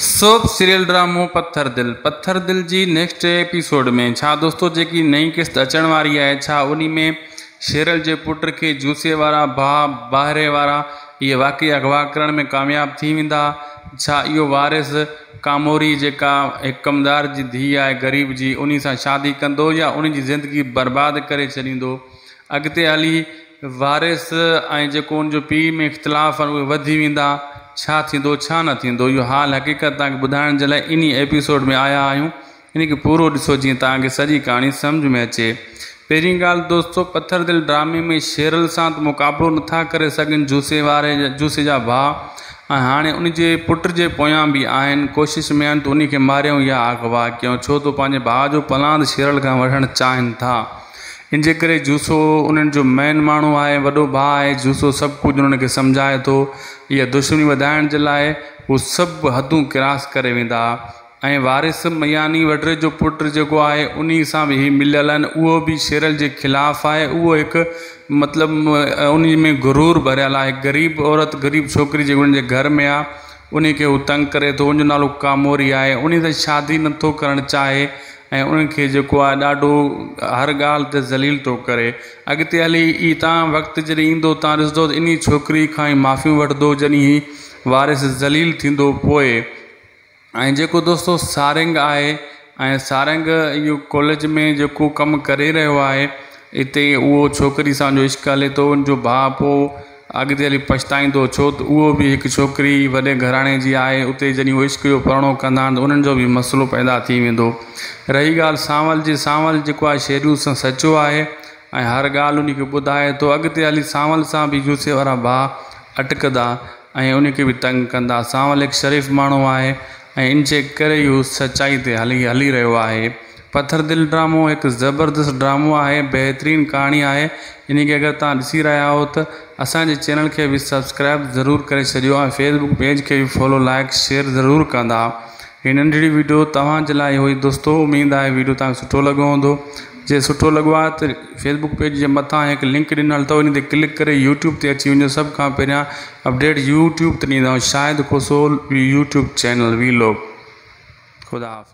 Soap serial ڊرامو پٿر دل پٿر دل جي next episode ۾ ڇا دوستو جيڪي نئين قسط اچڻ واري آهي ڇا انهي ۾ شيرل جي پٽ کي جوسي وارا ڀاء باهري وارا اهي واقعي اغوا ڪرڻ ۾ ڪامياب ٿي ويندا ڇا اهو وارث ڪاموري جيڪا هڪ ڪمدار جي ڌي آهي غريب جي انهي سان شادي ڪندو يا انهي جي زندگي برباد ڪري ڇڏيندو اڳتي هلي وارث ۽ جيڪو ان جو پيء ۾ اختلاف آهن اهي وڌي ويندا، ڇا ٿيندو ڇا نه ٿيندو اهو حال حقيقت توهان کي ٻڌائڻ جي لاء انهي ايپيسوڊ ۾ آيا آهيون ان کي پورو ڏسو جيئن توهان کي سڄي ڪهاڻي سمجھ ۾ اچي پهرين ڳالھ دوستو پٿر دل ڊرامي ۾ شيرل سان ته مقابلو نٿا ڪري سگهن جوسي واري جوسي جا ڀاء ۽ هاڻي ان جي پٽ جي پويان به آهن ڪوشش ۾ آهن ته انهي کي ماريون يا اغوا ڪيون ڇو ته پنهنجي ڀاء جو پلاند شيرل کان وٺڻ چاهن ٿا. ان جي ڪري جوسو انهن جو مين ماڻهو آهي ۽ وڏو ڀاء آهي. جوسو سڀ ڪجهه انهن کي سمجهائي ٿو. اها دشمني وڌائڻ جي لاء هو سڀ حدون ڪراس ڪري ويندا ۽ وارث مياني وڍري جو پٽ جيڪو آهي انهي سان به هي مليل آهن اهو به شيرل جي خلاف آهي اهو هڪ مطلب انهي ۾ غرور ڀريل آهي هڪ غريب عورت غريب ڇوڪري جيڪي انهن جي گهر ۾ آهي انهي کي هو تنگ ڪري ٿو ان جو نالو ڪاموري آهي انهي سان شادي نٿو ڪرڻ چاهي ۽ انهن کي جيڪو آهي ڏاڍو هر ڳالهه تي ذليل ٿو ڪري. اڳتي هلي ئي تان وقت جڏهن ايندو تان ڏسندو ته انهي ڇوڪري کان ئي معافيون وٺندو جڏهن هي وارث ذليل ٿيندو پوء. ۽ جيڪو دوستو سارنگ آهي ۽ سارنگ اهو ڪاليج ۾ جيڪو ڪم ڪري رهيو آهي اتي اهو ڇوڪري سان جو عشق هلي ٿو ان جو ڀاء پوء اڳتي هلي پڇتائيندو ڇو ته اهو به هڪ ڇوڪري وڏي گهراڻي جي آهي اتي جڏهن هو عشق جو پرڻو ڪندان ته انهن جو به مسئلو پيدا ٿي ويندو رهي ڳالهه سانول جي سانول جيڪو آهي شيڊيول سان سچو آهي ۽ هر ڳالهه انهي کي ٻڌائي ٿو اڳتي هلي سانول سان به يوسي وارا ڀاء اٽڪدا ۽ انهي کي به تنگ ڪندا سانول هڪ شريف ماڻهو آهي ۽ انجي ڪري ئي هو سچائي تي هلي هلي رهيو آهي پٿر دل ڊرامو هڪ زبردست ڊرامو آهي بهترين ڪهاڻي آهي انهي کي اگر توهان ڏسي رهيا آهيو ته اسان جي چينل کي به سبسڪرائب ضرور ڪري ڇڏيو ۽ فيس بڪ پيج کي به فالو لائڪ شيئر ضرور ڪندا هي ننڍڙي ويڊيو توهان جي لاء هئي دوستو اميد آهي ويڊيو توهان کي سٺو لڳو هوندو جي سٺو لڳو آهي ته فيس بڪ پيج جي مٿان هڪ لنڪ ڏنل اٿو ان تي ڪلڪ ڪري يوٽيوب تي اچي وڃو سڀ کان پهريان اپڊيٽ يوٽيوب تي ڏيندو Shahid Khoso YouTube channel vlog خدا حافظ.